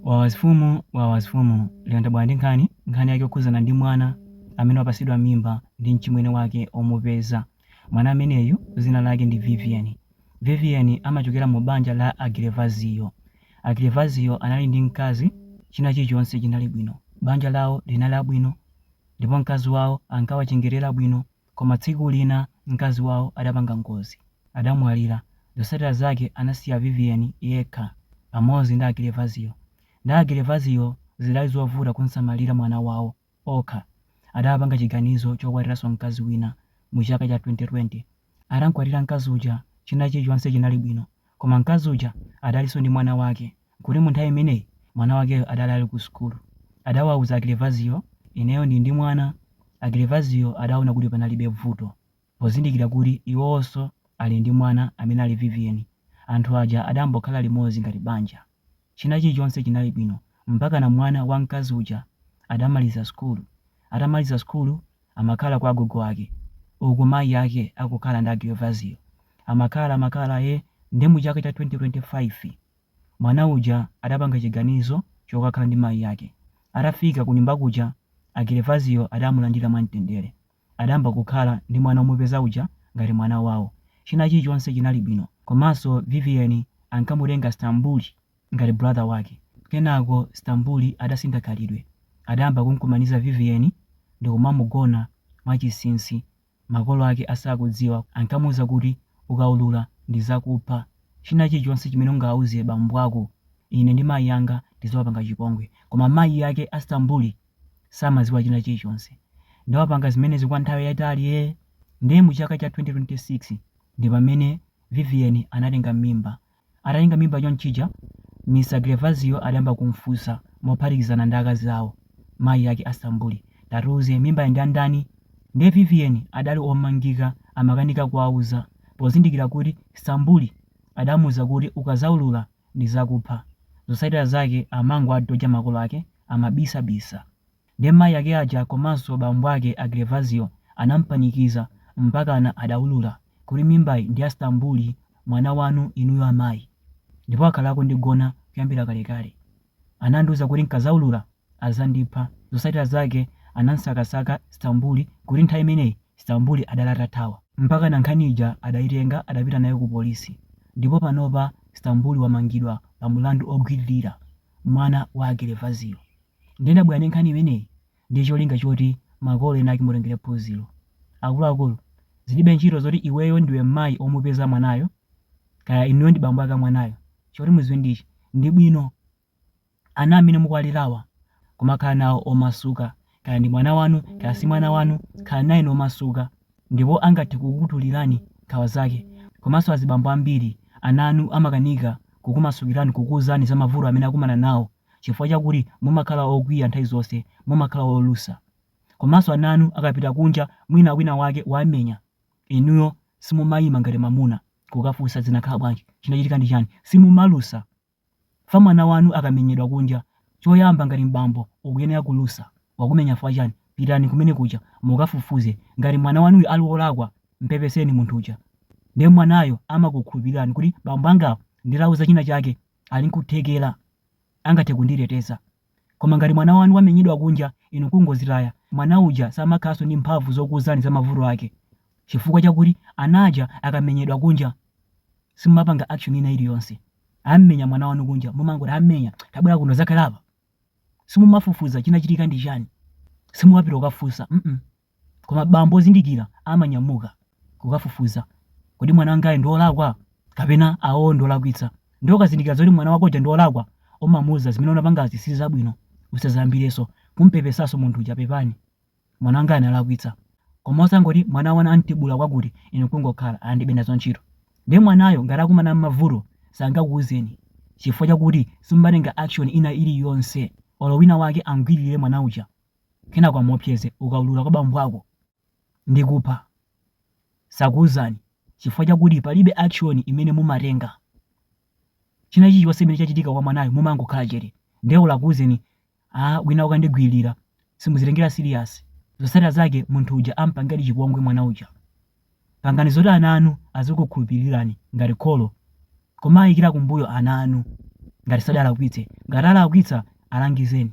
Wawa mfumu wawa mfumu lero ndabwera ndi nkhani, nkhani yake yokhudzana ndi mwana amene wapatsidwa mimba ndi mchimwene wake omupeza. Mwana ameneyu dzina lake ndi Vivian. Vivian amachokera mu banja la a Gervazio. A Gervazio anali ndi mkazi, china chilichonse chinali bwino. Banja lawo linali labwino ndipo mkazi wawo ankawachengetera bwino. Koma tsiku lina mkazi wawo adapanga ngozi, adamwalira. Zotsatira zake anasiya Vivian yekha pamodzi ndi a Gervazio. Nde a Gervazio zidali zovuta kumsamalira mwana wawo okha. Adapanga chiganizo chokwatiranso mkazi wina mu chaka cha 2020. Atamkwatira mkazi uja china chilichonse chinali bwino. Koma mkazi uja adalinso ndi mwana wake, nkuti mu nthawi imeneyi mwana wakeyo adali ali ku sukulu. Adawauza a Gervazio, ineyo ndili ndi mwana. A Gervazio adaona kuti panalibe vuto, pozindikira kuti iwowonso ali ndi mwana amene ali Vivian. Anthu aja adayambo khala limodzi ngati banja. China chilichonse chinali bwino mpakana mwana wa mkazi uja adamaliza sukulu. Atamaliza sukulu amakhala kwa agogo ake uku mayi ake akukhala ndi a Gervazio. Amakhala amakhala ee nde mu chaka cha 2025 mwana uja adapanga chiganizo chokakhala ndi mayi ake. Atafika kunyumba kuja a Gervazio adamulandira mwamtendere. adayamba kukhala ndi mwana omupeza uja ngati mwana wawo. China chilichonse chinali bwino. Komanso Vivian ankamutenga Stambuli ngati brother wake. Kenako Stambuli adasintha khalidwe. Adayamba kumkumaniza Vivian ndikumamugona mwachinsinsi makolo ake asakudziwa. Ankamuuza kuti ukaulula ndizakupha. China chilichonse chimene ungauze bambo ako ine ndi mayi anga tizawapanga chipongwe. Koma mayi ake a Stambuli samaziwa china chilichonse nde wapanga zimenezi kwa nthawi yaitali ee nde mu chaka cha 2026 ndi pamene Vivian anatenga mimba atatenga mimba chonchija Mr Gervazio adayamba kumfunsa mophatikizana ndi akazi awo mayi ake a Stambuli tatiuze mimbayi ndi ya ndani nde Vivian adali omangika amakanika kuwauza pozindikira kuti Stambuli adamuuza kuti ukazaulula ndizakupha. Zosatira zake amangowadoja makolo ake amabisabisa. Nde mayi ake aja komanso bambo ake a Gervazio anampanikiza mpakana adaulula kuti mimbayi ndi ya Stambuli mwana wanu inuyo amayi. Ndipo akhala akundigona kuyambira kalekale. Anandiuza kuti n'kadzaulula adzandipha. Zotsatira zake anam'sakasaka Stambuli kuti nthawi imeneyi Stambuli adali atathawa. Mpakana nkhani ija adaitenga adapita nayo kupolisi ndipo panopa Stambuli wamangidwa pa mlandu ogwiririra mwana wa a Gervazio. Ndiye ndabwera ndi nkhani imeneyi ndi cholinga choti makolo ena ake mutengere phunziro. Akuluakulu, zilibe ntchito zoti iweyo ndiwe mayi omupeza mwanayo kaya inuyo ndi bambo ake a mwanayo, choti mudziwe ndi ichi, ndi bwino ana amene mukuwalerawa kumakhala nawo omasuka, kaya ndi mwana wanu kaya si mwana wanu, khalani naye momasuka ndipo angathe kukutulirani nkhawa zake, komanso azibambo ambiri ana anu amakanika kukumasukirani kukuuzani za mavuto amene akumana nawo. chifukwa chakuti mumakhala okwiya nthawi zonse, mumakhala olusa. Komanso ana anu akapita kunja mwina wina wake wamenya, inuyo simumayima ngati mamuna kukafunsa zinakhala bwanji, chinachitika ndi chani, simumalusa. Fa mwana wanu akamenyedwa kunja, choyamba ngati m'bambo ukuyenera kulusa, wakumenya fukwa chani, pitani kumene kuja mukafufuze, ngati mwana wanuyo ali wolakwa mpepeseni munthu uja, nde mwanayo amakukhulupirirani kuti bambo angawa nditawauza china chake. ali nkuthekera, angathe kunditeteza. Koma ngati mwana wanu wamenyedwa kunja, inu nkungozitaya, mwana uja samakhalanso ndi mphamvu zokuuzani za mavuto ake chifukwa chakuti ana aja akamenyedwa kunja, simumapanga action ina iliyonse. Ammenya mwana wanu kunja, mumangoti, Ammenya, tabwera kuno udzakhale apa. Simumafufuza chinachitika ndi chani. Simumapita kukafunsa, mm. Koma bambo ozindikira amanyamuka kukafufuza, Kodi mwana wangayu ndi wolakwa kapena awowo ndi olakwitsa? Ndiye ukazindikira zoti mwana wako uja ndi wolakwa, umamuuza Zimene unapangazi si zabwino. Usadzayambirenso. Kum'pepesanso munthu uja, Pepani, mwana wangayu analakwitsa. Koma osangoti mwana wanu am'tibula kwakuti inu n'kungokhala, Ndilibe nazo ntchito. Ndiye mwanayo ngati akumana n'mavuto sangakuuzeni chifukwa chakuti simumatenga action ina iliyonse olo winawake am'gwiririre mwana uja. kenako amuopseze ukaulula kwa bambo ako ndikupha sakuuzani chifukwa chakuti palibe action imene mumatenga china chilichonse chimene chachitika kwa mwanayo mumangokhala chete ndiye olo akuuzeni wina akundigwiririra simuzitengera serious zotsatira zake munthu uja ampangadi chipongwe mwana uja pangani zoti ana anu azikukhulupirirani ngati kholo kumaikira kumbuyo ana anu ngati sadalakwitse ngati alakwitsa alangizeni